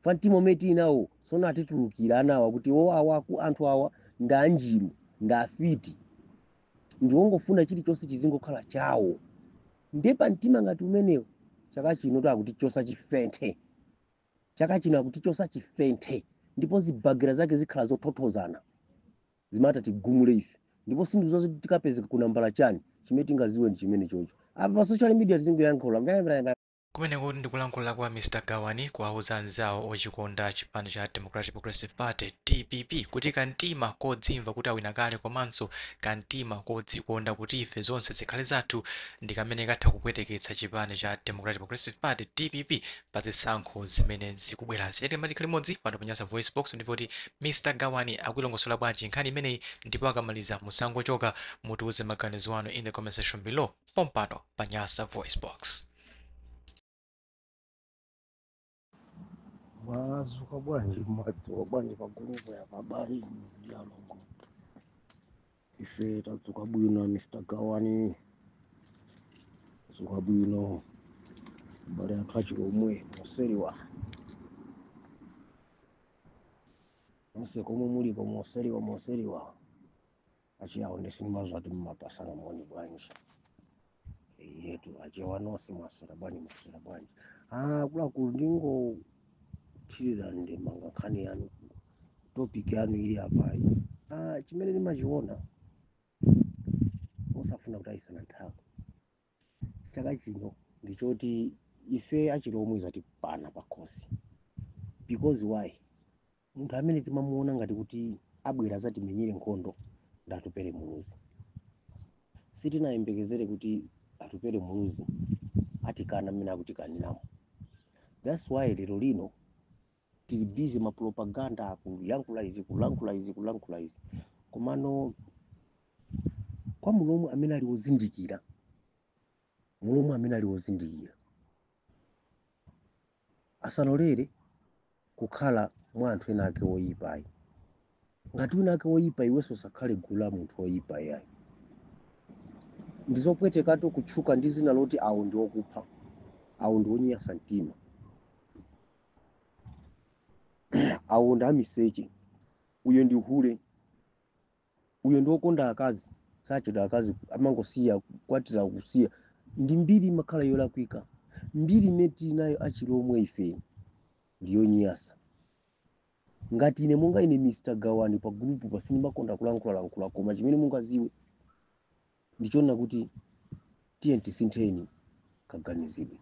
pa mtima umene tili nawo sono atitulukira anawa kuti o awa aku- anthu awa ndi anjiru ndi afiti ndi wongofuna chilichonse chizingokhala chawo nde pa mtima ngati umenewo chaka chino tu akutichosa chifenthe chaka chino akutichosa chifenthe ndipo zibagira zake zikhala zothothozana zimata tigumule ife ndipo sindidziwa tikapezeka ku nambala chani chimene tingaziwe ndi chimene chocho apa pa social media tizingoyankhula Kumenekutu ndi kulankhula kwa Mr Gawani kuwauza anzawo ochikonda chipani cha Democratic Progressive Party, dpp, kuti ka mtima kodzimva kuti awina kale komanso ka mtima kodzikonda kuti ife zonse zikhale zathu ndi kamene katha kupweteketsa chipani cha Democratic Progressive Party, dpp, pa zisankho zimene zikubwerazi. Tiyeni tikhale limodzi pano pa Nyasa VoiceBox ndimve kuti Mr Gawani akuilongosola bwanji nkhani imeneyi ndipo akamaliza musangochoka, mutiuze maganizo anu in the comment section below. pompano pa nyasa voice box mwazuka bwanji mwadzuka bwanji pagulupo ya abale ndi alongo ife tadzuka bwino mr gawani dzuka bwino abale athu achilomwe moseliwa onse komwe muliko moseliwa moseliwa achiyawo nde sindimaziwa kuti mumapasana moni bwanji yetu achewa nonse mwaswera bwanji mwaswera bwanji ah akuluakulu ndingothirira ndemanga nkhani yanu topic yanu ili apayi ah chimene ndimachiona osafuna kutayisana nthawi chaka chino ndi choti ife achilomwe zatipana pakhosi because why munthu amene timamuona ngati kuti abwera azatimenyere nkhondo ndi atupere muluzi sitinayembekezere kuti atupere muluzi atikana mmene akutikaniramo that's why lero lino tili busy ma propaganda akulankhula izi kulankhula izi kulankhula izi komano kwa mulomwe amene ali wozindikira mulomwe amene ali wozindikira asalolere kukhala mwa anthu ena ake oyipa ayi ngati wina ake woyipa iwenso usakhale gulu la munthu woyipa yayi ndizopwetekatu kutchuka ndi zina loti awo ndi okupha awo ndi onyasa mtima awo ndi amiseche uyo ndi hule uyo ndi wokonda akazi sachedwa akazi amangosiya kukwatira kusiya ndi mbiri imakhala yolakwika mbiri imene tili nayo achilomwe ife ndiyonyasa ngati ine monga ine mr gawani pa gulupu pa sindimakonda kulankhulalankhula koma chimene mungaziwe ndi chonena kuti tiyeni tisintheni kaganizidwe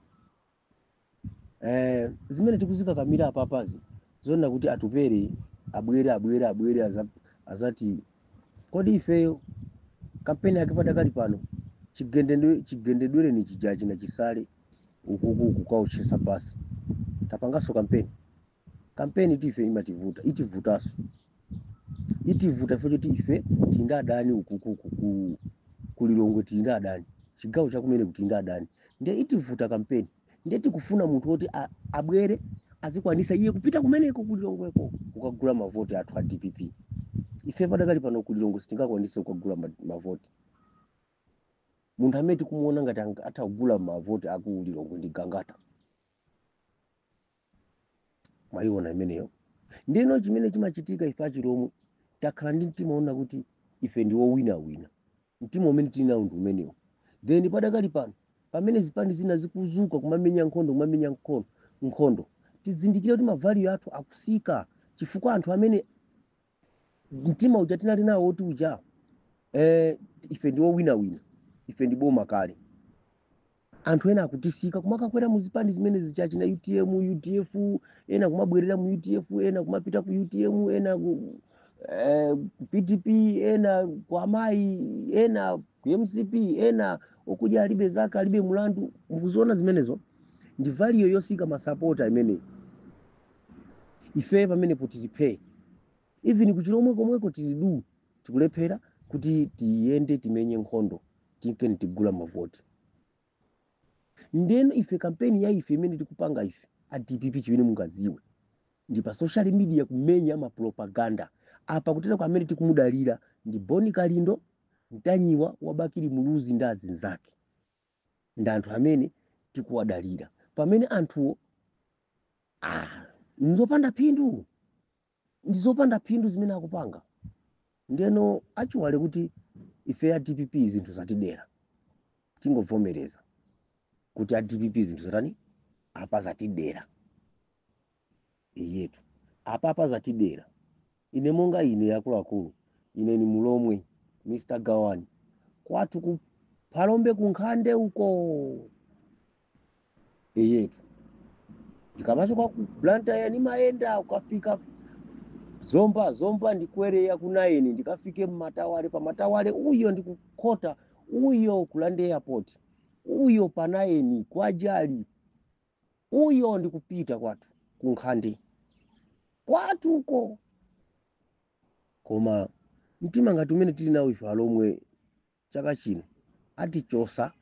eh, zimene tikuzikakamira apapazi zoona kuti atupere abwere abwere abwere aza- azati kodi ifeyo kampeni yake padakali pano chigende- chigendedwere ni chijachi na chisale ukuku kukaotchesa basi tapanganso kampeni kampeni ti ife imativuta itivutanso itivuta ife choti ife tili ndi adani ukukuku ku kulilongwe tili ndi adani chigawo chakumene kuti ndi adani ndiye itivuta kampeni ndiye tikufuna munthu woti a- abwere azikwanisa iye kupita kumeneko kulilongweko kukagula mavoti athu a dpp ife padakali pano kulilongwe sitingakwanise kukagula ma- mavoti munthu amene tikumuona ngati ang- atha kugula mavoti aku ulilongwe ndi gangata mwayiona imeneyo ndino chimene chimachitika ife achilomwe takhala ndi mtima wonena kuti ife ndi wowinawina mtima umene tili nawo ndi umenewo then padakali pano pamene zipani zina zikuzuka kumamenya nkhondo kumamenya nkhondo tizindikire kuti mavaliyo athu akusika chifukwa anthu amene mtima uja tinali nawo oti uja eh, ife ndi owinawina ife ndi boma kale anthu ena akutisika kumakakwera mu zipani zimene zichachi na utm udf ena kumabwerera mu udf ena kumapita ku utm ena ku eh, pdp ena kwa amayi ena ku mcp ena okuja alibe zaka alibe mlandu mukuziona zimenezo ndi valiyo yosika masapota imeneyi ife pamenepo tili phee even kuchilomwe komweko tili duu tikulephera kuti tiyende timenye nkhondo tinkeni tigula mavoti ndeno ife kampeni ya ife imene tikupanga ife a dpp chimene mungaziwe ndi pa social media kumenya mapropaganda apa kuteroko amene tikumudalira ndi boni kalindo mtanyiwa wabakili muluzi ndi azinzake ndi anthu amene tikuwadalira pamene anthuwo ah, nzopanda phindu ndi zopanda phindu zimene akupanga ndeno aiwale kuti ife a dpp zinthu zatidera tingovomereza kuti a dpp zinthu zatani apa zatidera eyetu apapa zatidera ine monga ine akuluakulu ine ni mulomwe mr gawani kwathu ku phalombe kunkhande uko eyetu ndikamachoka ku blantyre nimayenda kukafika zomba zomba ndikwere ya kunayeni ndikafike mmatawale pamatawale uyo ndikukhota uyo ku roundabout uyo panayeni kwajali Uyo ndi kupita kwathu ku nkhande kwathu uko. Koma mtima ngati umene tili nawo ife alomwe chaka chino atichosa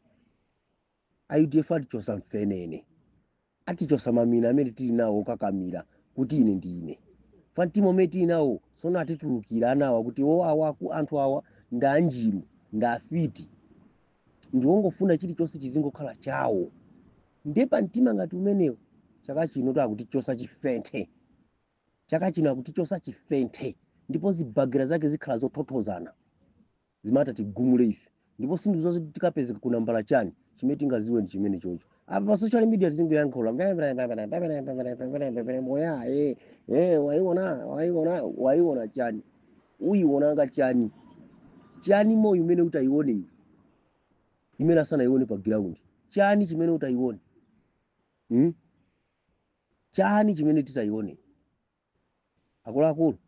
a udf atichosa mfenene atichosa mamina amene tili nawo okakamira kuti ine ndi ine fa mtima umene tili nawo sono atitulukira anawa kuti o awaku anthu awa ndanjiru ndafiti ndi wongofuna chilichonse chizingokhala chawo nde pa mtima ngati umenewo chaka chino to akutichosa chifenthe chaka chino akutichosa chifenthe ndipo zibagira zake zikhala zothothozana zitatigumule ife ndipo sindizo zoti tikapezeka ku nambala chani chimene tingaziwe ndi chimenechocho apa pa social media tizingoyankhula oya eh, eh, waiona waiona waiona chani uyiwonanga chani chani moyo umene utayione iwe imene asanayione pa ground chani chimene utayione hmm? chani chimene titayione akuluakulu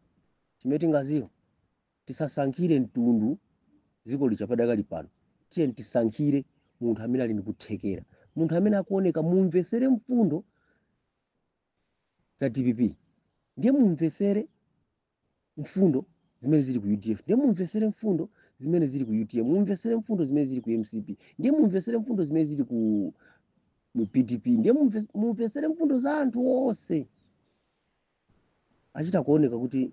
chimene tingaziwe tisasankhire mtundu dziko lija padakali pano tiyeni tisankhire munthu amene ali ndikuthekera munthu amene akuoneka mumvesere mfundo za dpp ndiye mumvesere mfundo zimene zili ku udf ndiye mumvesere mfundo zimene zili ku utm mumvesere mfundo zimene zili ku mcp ndiye mumvesere mfundo zimene zili ku pdp ndiye mumve- mumvesere mfundo za anthu onse achita kuoneka kuti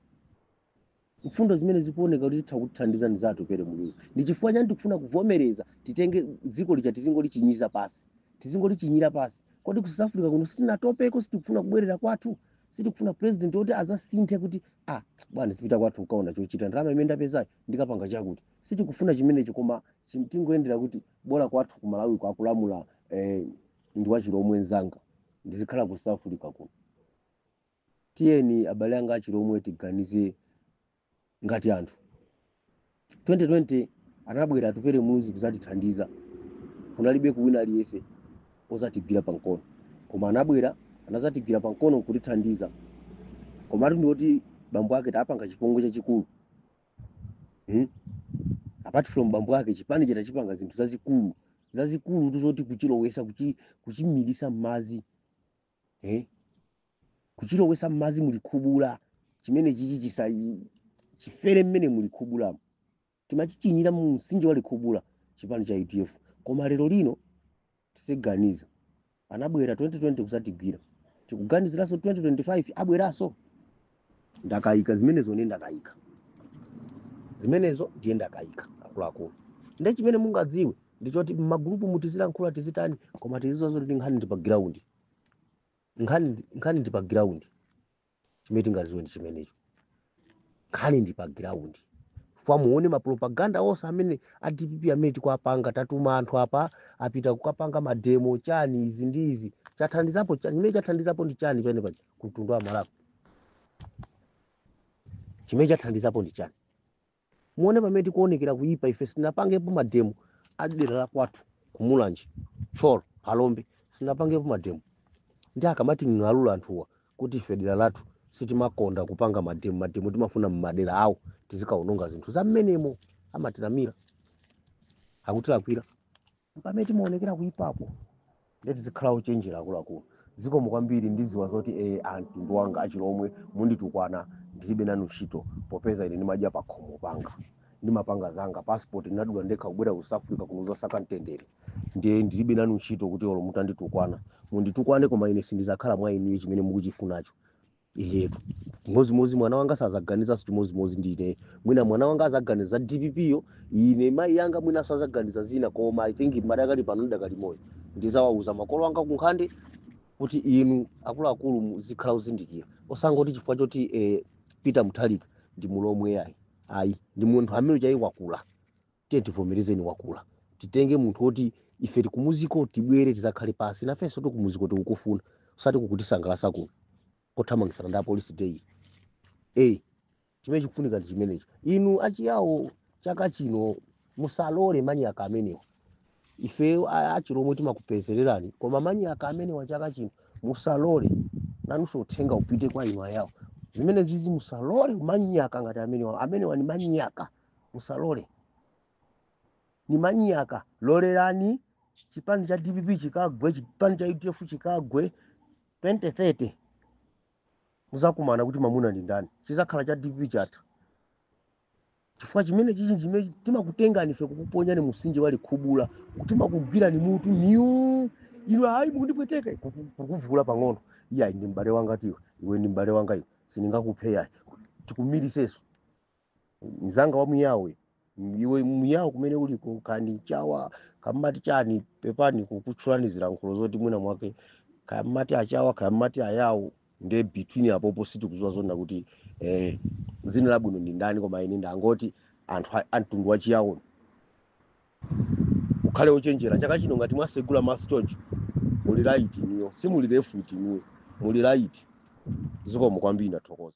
mfundo zimene zikuoneka kuti zitha kutithandiza ndi za atupere muluzi ndi chifukwa chani tikufuna kuvomereza titenge dziko lija tizingolichinyira pasi tizingolichinyira pasi kodi ku south africa kuno sitinatopeko sitikufuna kubwerera kwathu sitikufuna president woti azasinthe kuti ah bwana ndizipita kwathu nkaona chochita ndalama imene ndapezayo ndikapanga chakuti sitikufuna chimenecho koma chim- tingoyendera kuti bola kwathu ku malawiko akulamula eh, ndi wachilomwe nzanga ndizikhala ku south africa kuno tiyeni abale anga achilomwe tiganize ngati anthu 2020 anabwera atupere muluzi kuzatithandiza kunalibeko wina aliyese ozatigwira pankono koma anabwera anazatigwira pankono nkutithandiza komatu ndioti bambo ake tapanga chipongwe chachikulu hmm? apart from bambo ake chipanichi tachipanga zinthu zazikulu zazikulutu zoti kuchilowesa kuchi, kuchimilisa mmazi eh? kuchilowesa mmadzi mu likhubula chimenechichi chisa chifere mmene mu likhubulamo timachichinyira mu msinje wa likhubula chipani cha udf koma lero lino tiziganiza anabwera 2020 kuzatigwira tikuganiziranso 2025 abweranso ndakayika zimenezo ndiye ndakayika zimenezo ndiye ndakayika akuluakulu ndiye chimene mungadziwe ndi choti mmagulupu mu tizilankhula tizitani koma tiziziwa kuti nkhani ndi pa giraundi nkhani ndi- nkhani ndi pa giraundi chimene tingaziwe ndi chimenecho nkhani ndi pa giraundi fwa muone mapropaganda onse amene a dpp amene tikuapanga tatuma anthu apa apita kukapanga mademo chani izi ndi izi chathandizapo chani chimene chathandizapo ndi chani pene pa ku mtundu wa malawi chimene chathandizapo ndi chani muone pamene tikuonekera kuipa ife sitinapangepo mademo a dera la kwathu kumulanje thyolo phalombe sitinapangepo mademo ndi akamating'alula anthuwa kuti ife dera lathu sitimakonda kupanga mademo mademo timafuna mmadera awo tizikaononga zinthu za mmenemo amatinamira akutilakwira mpamene timaonekera kuipako nde tizikhala ochenjera akuluakulu zikomo kwambiri ndidziwa zoti e amtundu wanga achilomwe munditukwana ndilibe nanu ntchito popeza ine ndimadya pakhomo panga ndimapanga zanga passport ndinadula ndekha kubwera ku south africa kuno kuzasaka mtendere ndiye ndilibe nanu ntchito kuti olo mutanditukwana munditukwane koma ine sindizakhala mwa inuyo chimene mukuchifunacho inde chimodzimodzi mwana wanga sazaganizanso chimodzimodzi ndi ineyo mwina mwana wanga azaganiza za dpp yo ine mayi anga mwinanso azaganiza zina koma i think madakali pano ndidakali moyo ndizawauza makolo anga kunkhani kuti inu akuluakulu muzikhala ozindikira osangoti chifukwa choti eh, peter mutharika ndi mulomwe ayi ayi ndi munthu amene chani wakula tiye tivomereze ndi wakula titenge munthu woti ife tili kumuziko tibwere tizakhale pasi nafenso kumuziko tikukufuna osati kukutisangalasa kuno kothamangitsana ndi apolisi daily chimene chikufunika ndi chimenecho inu achiyawo chaka chino musalole manyaka amenewa ife a- achilomwe timakupezerani koma manyaka amenewa chaka chino musalole nanunso uthenga upite kwa inu ayawo zimenezizi musalole manyaka ngati amenewa amenewa ni manyaka musalole ni manyaka lolelani chipani cha dpp chikagwe chipani cha udf chikagwe 2030 muzakumana kuti mamuna ndi ndani chizakhala cha dpp chatha chifukwa chimenechichi chimene timakutengani ife kukuponyani mumsinje wa likhubula timakugwirani mutu inu ayi mukundipweteka kuku- kukuvuula pang'ono iyayi ndi m'bale wangatu iwe iwe ndi m'bale wanga iwe sindingakuphe yayi tikumiriseso mzanga wa muyawo iwe muyawo kumene uliko kaya ndi mchawa kaya mmati chani pepani kukutchulani zilankhulo zoti mwina mwake kaya mmati achawa kaya mmati ayawo nde between apopo sitikuziwa zoona kuti eh, dzina labwino ndi ndani koma ine ndangoti anthu a- a mtundu wa chiyawo mukhale ochenjera chaka chino ngati mwasegula maso choncho muli right ndithu simuli left iyayi muli right zikomo kwambiri ndathokoza